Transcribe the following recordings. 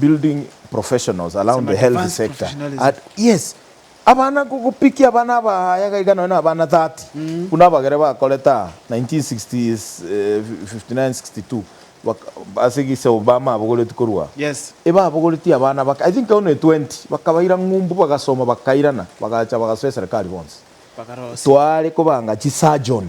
building professionals around the health sector and yes abana gopikia abana abaya iga iga nonye na abana 30 buna abagere bakorete aa 1959-62 ase egisebo bamabogoretie korwa aa ebabogoretie abana baka i think only 20 bakabaira ng'umbu bagasoma bakairana bagacha bagasoa eserikari bonsi tware kobanga chisurgeon.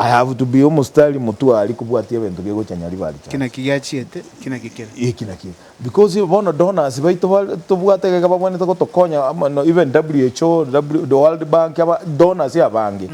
I have to be omostari motwari kobwatia ebento biegocha nyari ba Ki recharge. naki giachiete, ki naki kere. Eki naki ere. Because bono donors baito bare tobwate egeka babwanete gotokonya ama no even WHO, W the World Bank aba donors abange.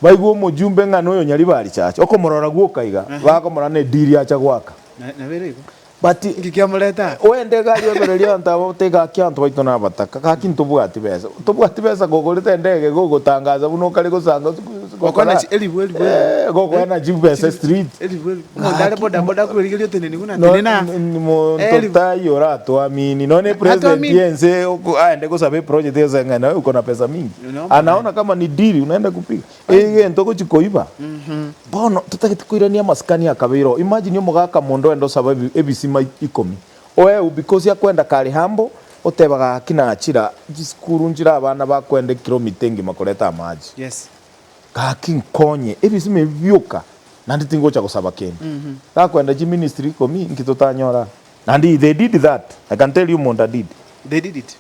Baigwe omojumbe ng'a noyo nyari ba recharge. Okomorora gwoka iga, Ehe. bakomorora ne deal acha gwaka. Na- nabere igo. But. Inki kiamorete aa? Oende egari obererie abanto aba bote gaki abanto baito nabataka gaki ntobwati besa tobwati besa gogorete endege gogotangaza buna okare gosanga Gokoena chi elibwe elibwe elibwe gokoena chi besa chiri street elibwe elibwe omonto are boda boda akwerigeria oteneni buna atenene aa monto elibwe tai oratoamini nonye president Atoamini. yense oko aende gosaba eproject gose ng'a naye okona pesa mingi Nonya omonene. anaona kama ni deal unaenda kupiga Egento ogochia koiba, bono totagete koirania amasikani akabeire oo. Imagine omogaka mondo enda osaba ebisima ikomi oeu because akwenda kare humble, oteba gaki nachira chisukuru nchire abana bakwenda ekiromita engima koreta amache. Yes. Gaki nkonye ebisima ebi bioka naende tingocha gosaba kende. Gakwenda chiministry ikomi inki totanyora? Naende they did that, I can tell you monda did. They did it.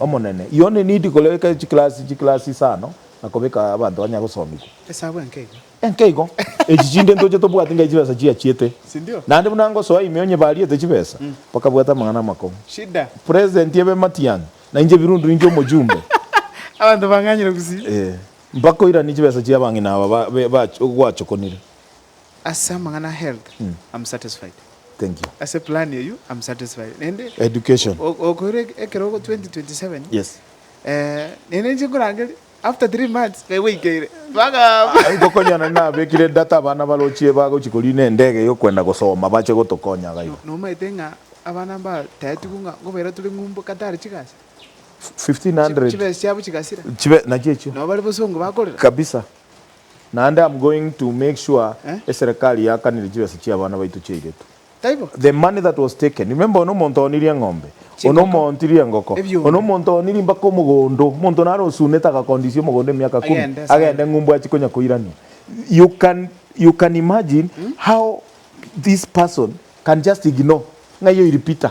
Omonene, Yone nidi koreka chiklasi chiklasi isano na kobeka abanto banya gosomigwa. Esabu enke igo. Enke igo. Echi chinde ntoche tobwati ngai chibesa chiachiete. Sindio? Naende buna ngosoa ime onyebariete chibesa, bakabwata amang'ana amakong'u. Shida. President ebe matiang'i, na inche birundu ninche omochumbe. Abanto bang'anyire gusii. Ee. Mbakoiranie chibesa chiabang'ina aba ba, be, ba, gwachokonire. Ase amang'ana a health am satisfied. Thank you. Ase plan eyio am satisfied. Naende Education. o- o- okoira eke- ekero ogo 2027 Yes. eh, naende ninche nkorangeria after three months naye gwaikeire. Bagamba. Aye gokonyana nabekire data abana barochie bagochi korina endege yokwenda gosoma bache gotokonya iga iga. Nomaete ng'a abana mbataetigwe ng'a nkobaira tore ng'umbu Qatar chigasi. Chi- 1500 chibesa chiabo chigasira. chibe nachio echio. Nabo bare bosongo bakorera. Kabisa. Naende am going to make sure Eh? eserekari yakanire chibesa chia abana baito chiairetwe. Taibo? The money that was taken. Remember one omonto oonirie eng'ombe, one Chingoko. omoontirie engoko, Ebiombe. one omonto oonirie mpaka omogondo, omonto naro osunete agakondisia omogondo emiaka kumi, Agende ase agende ng'umbu achie konya koirania. You can, you can imagine how this person can just ignore ng'ai oiripita.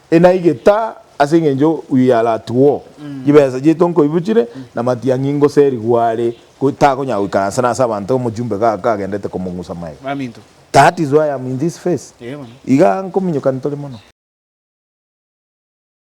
Enaigeta ase engencho uyu yaratugwo, chibesa chiaito nkoibuchire, na matiang'i ngoserigwe are, ko takonyara goikaransa nase abanto omochumbe ga kagendete komong'usa maega. That is why I'm in this face. Iga nkominyoka ntore mono.